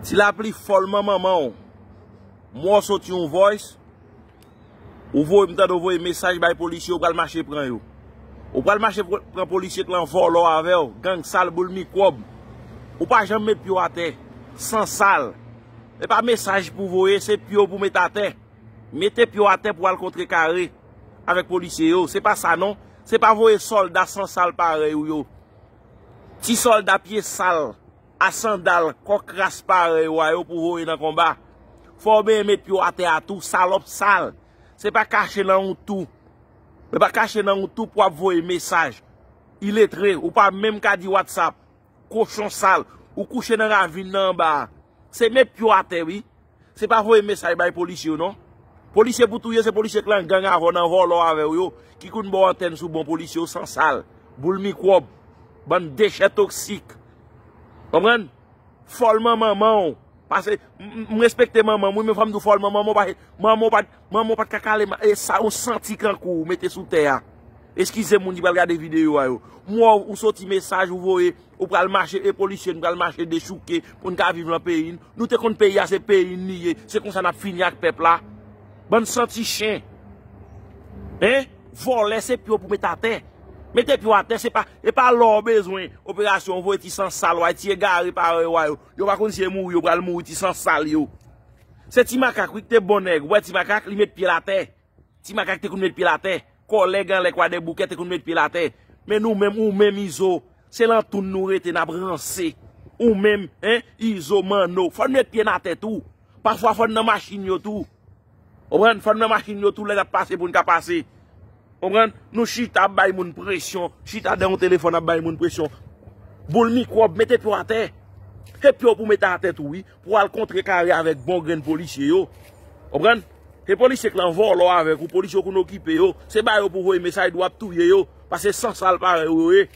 Ti lapli fòl man manman w. Mò sot yon voice. Ou voye m tande w voye mesaj bay polisye ou pral mache pran yo. Ou pral mache pran polisye klan vòlò avè w, gang sal boul mikwòb. Ou pa janm met pye w atè. San sal. E pa mesaj pou voye se pye w pou met atè. Mete pye w atè pou al kontre kare avèk polisye yo. Se pa sa non. Se pa voye sòlda san sal parèy ou yo. Ti sòlda pye sal. A sandal kòk ras parèy ou a yo pou voye nan konba. Fò w benyen met pye w atè a tou, salòp sal. Se pa kache nan ou tou. Se pa kache nan ou tou pou w ap voye mesaj. Iletre, ou pa menm ka di whatsapp. Kochon sal. Ou kouche nan ravin nan anba a. Se met pye w atè wi. Se pa voye mesaj bay polisye yo non. Polisye pou touye se polisye k lan gang avè w nan vòlò avè w yo ki konn ba w antèn sou bon polisye yo san sal, boul mikwòb, bann dechè toksik. Konprann? Fòlman manman w pase m respekte manman m wi men fò m di w fòlman manman w pase manman w pa Manman w pat ka kale ma e sa ou santi kankou ou mete sou tè a eskize moun ki pral gade video a yo mò ou soti mesaj ou voye ou pral mache e polisye n pral mache dechouke pou n ka viv lan peyi n nou te konn peyi a se peyi n li ye se konsa nap fini ak pèp la bann santi chen hein vòlè se pye w pou met atè mete pye w atè se pa e pa lò w bezwen operasyon ou voye ti san sal w a ti egare parèy w a yo yo pa konn si e mouri yo pral mouri ti san sal yo. Se ti makak wi ki te bon nèg. Ou wè ti makak, li met pye l atè. Ti makak te konn met pye l atè. Kòlèg anlè kwadèboukè te konn met pye l atè. Men nou menm, ou menm Izo, se lan tounn nou rete n ap ranse. Ou menm, hein, Izo, Manno, fò n met pye n atè tou. Pafwa fò n nan machin yo tou. Ou konprann? Fò n nan machin yo tou lè n ap pase pou n ka pase. Ou konprann? Nou chita ap bay moun presyon. Chita dèyè yon telefòn ap bay moun presyon. Boul mikwòb, mete pye w atè. Se pye w pou w mete atè tou wi. Pou al kontre kare avèk bon grenn polisye yo. Konprann? Se polisye k lan vòlò avèk ou, polisye w konn okipe yo. Se ba yo pou voye mesaj di w ap touye yo. Pase san sal parèy ou yo ye.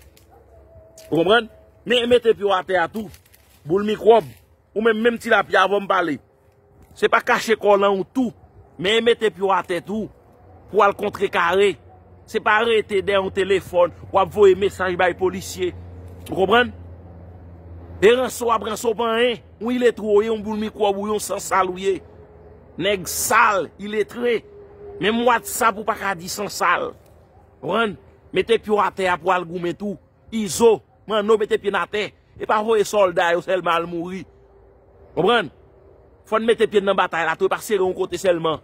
Ou konprann? Men mete pye w atè a tou. Boul mikwòb. Ou menm menm tilapya avè w m pale. Se pa kache kò w lan yon tou. Men mete pye w atè tou. Pou al kontre kare. Se pa rete dèyè yon telefòn ou ap voye mesaj bay polisye. Ou konprann? E ranse ou ap ranse ou pa anyen. Yon iletre ou ye, yon boul mikwòb ou ye, yon san sal ou ye. Nèg sal, iletre. Menm whatsapp ou pa ka di san sal. Ou konprann? Mete pye w atè a pou al goumen tou. Izo, Manno mete pye n atè. E pa voye sòlda yo sèlman al mouri. Konprann? Fò n mete pye n nan batay la tou e pa sere yon kote sèlman.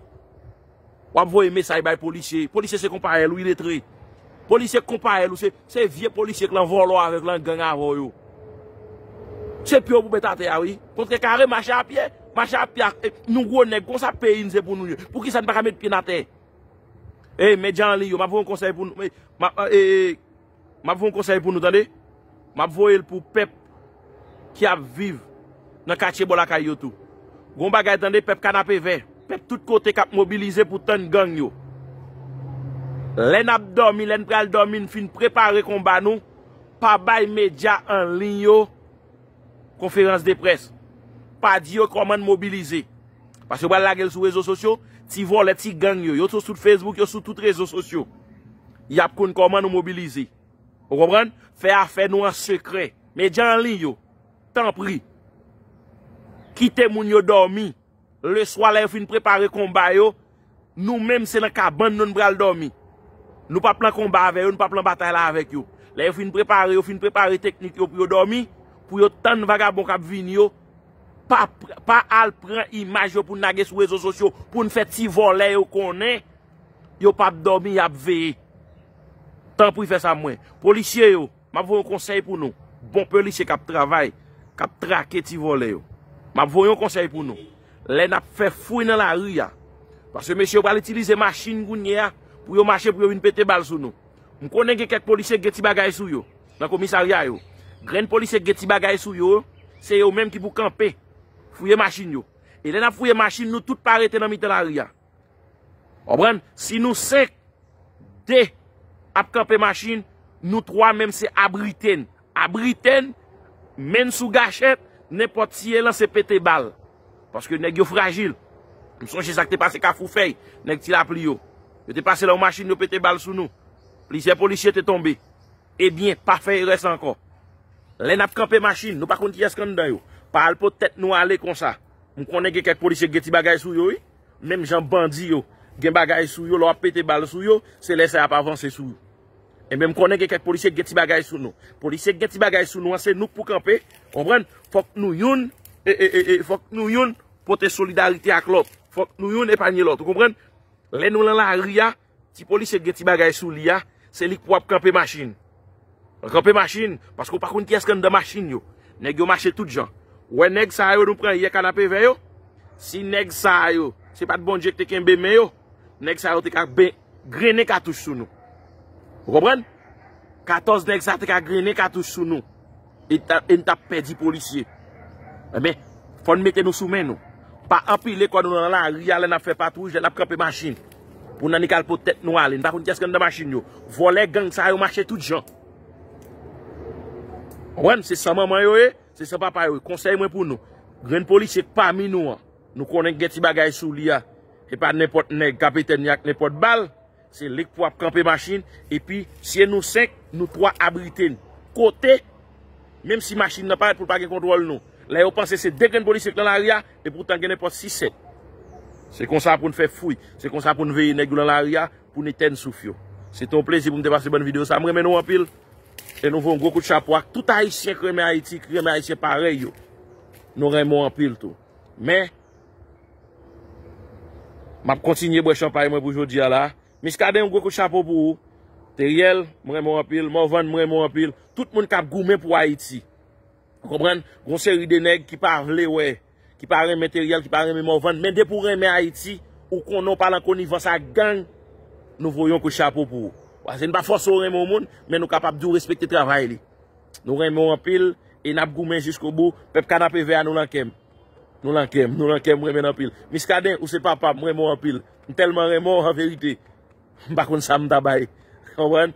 W ap voye mesaj bay polisye. Polisye se konpayèl ou iletre. Polisye k konpayèl ou se vye polisye k lan vòlò avè w, lan gang avè w yo. Se pye w pou met atè a wi. Kontre kare mache a pye. Mache a pye ak nou gwo nèg kon sa peyi n se pou nou ye. Pou ki sa n pa ka met pye n atè? Ey, medya anliy yo, m ap voye yon konsèy pou nou. Map fè yon konsèy pou nou tande, map voyel pou pèp ki ap viv nan katye bò lakay yo tou. Gon bagay tande pèp kanapevè, pèp tout kote kap mobilize pou tann gang yo. Lè nap dòmi, lèn pral dòmi, n fin prepare konba nou, pa bay medya anliy yo, Konferans de près. Pa di yo kòman n mobilize. Paske yo pral lage l sou rezo sosyo. Ti vòlè, ti gang yo. Yo sou tout Facebook, yo sou tout rezo sosyo. Y ap konn kòman nou mobilize. Ou konprann? Fè afè nou an sekrè. Medya anliy yo, tanpri, kite moun yo dòmi. Leswa lè yo fin prepare konba yo, nou menm se nan kabann nou n pral dòmi. Nou pap lan konba avè yo, nou pap lan batay la avèk yo. Lè yo fin prepare, yo fin prepare teknik yo pou yo dòmi, pou yo tann vagabon k ap vini yo, pa al pran imaj yo pou n lage sou rezo sosyo, pou n fè ti vòlè yo konnen, yo pap dòmi, y ap veye. Tanpri fè sa mwen. Polisye yo. Map voye yon konsèy pou nou. Bon pelisye kap travay, kap trake ti vòlè yo. Map voye yon konsèy pou nou. Lè nap fè fouy nan lari a. Paske mesye yo pral itilize machin kounye a pou yo mache pou yo vin pete bal sou nou. M konnen gen kèk polisye gen ti bagay sou yo nan komisarya yo. Grenn polisye gen ti bagay sou yo, se yo menm ki pou kanpe. Fouye machin yo. E lè nap fouye machin nou tout pa rete nan mitan lari a. Konprann? Si nou 5, 2 ap kanpe machin, nou 3 menm se abrite n. Abrite n, men n sou gachèt, nenpòt tiye lan se pete bal. Paske nèg yo frajil. M sonje sa k te pase Kafou Fèy, nèg Ti Lapli yo. Yo te pase la yon machin yo pete bal sou nou. Plizyè polisye te tonbe. Ebyen, pa fè erè sa ankò. Lè n ap kanpe machin, nou pa konn kiyès k anndan yo. Pa al pot tèt nou ale konsa. M konnen gen kèk polisye k gen ti bagay sou yo wi. Menm jan bandi yo gen bagay sou yo lè w ap pete bal sou yo, se lè sa y ap avanse sou ou. Enben m konnen gen kèk polisye ki gen ti bagay sou nou. Polisye ki gen ti bagay sou nou an se nou k pou kanpe, konprann, fòk nou youn fòk nou youn pote solidarite ak lòt, fòk nou youn epanye lòt ou konprann. Lè nou lan lari a. Ti polisye ki gen ti bagay sou li a, se li k pou ap kanpe machin. Ranpe machin, paske ou pa konn kiyès k anndan machin yo. Nèg yo mache tout jan. Ou wè nèg sa yo nou pran yè Kanapevè yo? Si nèg sa yo, se pa t Bondye k te kenbe men yo, nèg sa yo te ka ben grennen katouch sou nou. Ou konprann? 14 nèg sa te ka grennen katouch sou nou. E n tap pèdi polisye. Enben, fò n mete nou sou men nou. Pa anpile kò nou nan lari a lè n ap fè patwouj, lè n ap kanpe machin. Pou n annik al pot tèt nou ale. N pa konn kiyès ki anndan machin yo. Vòlè gang sa yo mache tout jan. Konprann? Se san manman yo ye, se san papa yo ye. Konsèy mwen pou nou. Grenn polisye k pami nou an. Nou konnen k gen ti bagay sou li a. E pa nenpòt nèg k ap etènye ak nenpòt bal. Se lik pou ap kanpe machin epi se nou 5 nou 3 abrite n kote menm si machin nan parèt pou l pa gen kontwòl nou lè yo panse se 2 grenn polisye k lan lari a epoutan gen nenpòt 6 7 se konsa pou n fè fouy se konsa pou n veye nèg yo lan lari a pou n etèn souf yo se te yon plezi pou m te pase bann videyo sa m renmen nou anpil e nou voye yon gwo kout chapo ak tout ayisyen k renmen ayiti k renmen ayisyen parèy yo nou renmen w anpil tou men. Map kontinye bwè chanpay mwen pou jodi a la. Miskaden yon gwo kout chapo pou ou. Teriel, m renmen w anpil. Morvan, m renmen w anpil. Tout moun kap goumen pou Ayiti. Ou konprann? Gon seri de nèg ki pa vle wè, ki pa renmen Teriel, ki pa renmen Morvan. Men depi w renmen Ayiti, ou konnen w pa lan konivans ak gang, nou voye yon kout chapo pou ou. Pase n pa fòse w renmen yon moun, men nou kapab di w respekte travay li. Nou renmen w anpil, e nap goumen jiskobou. Pèp Kanapevè a nou lan kè m. Nou lan kèm, nou lan kèm, m renmen nou anpil. Miskaden, ou se papa m, m renmen w anpil. M tèlman renmen w, an verite, m pa konn sa m ta bay. Konprann?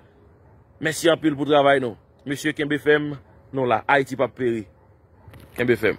Mèsi anpil pou travay nou. Mesye kenbe fèm, nou la. Ayiti p ap peri. Kenbe fèm.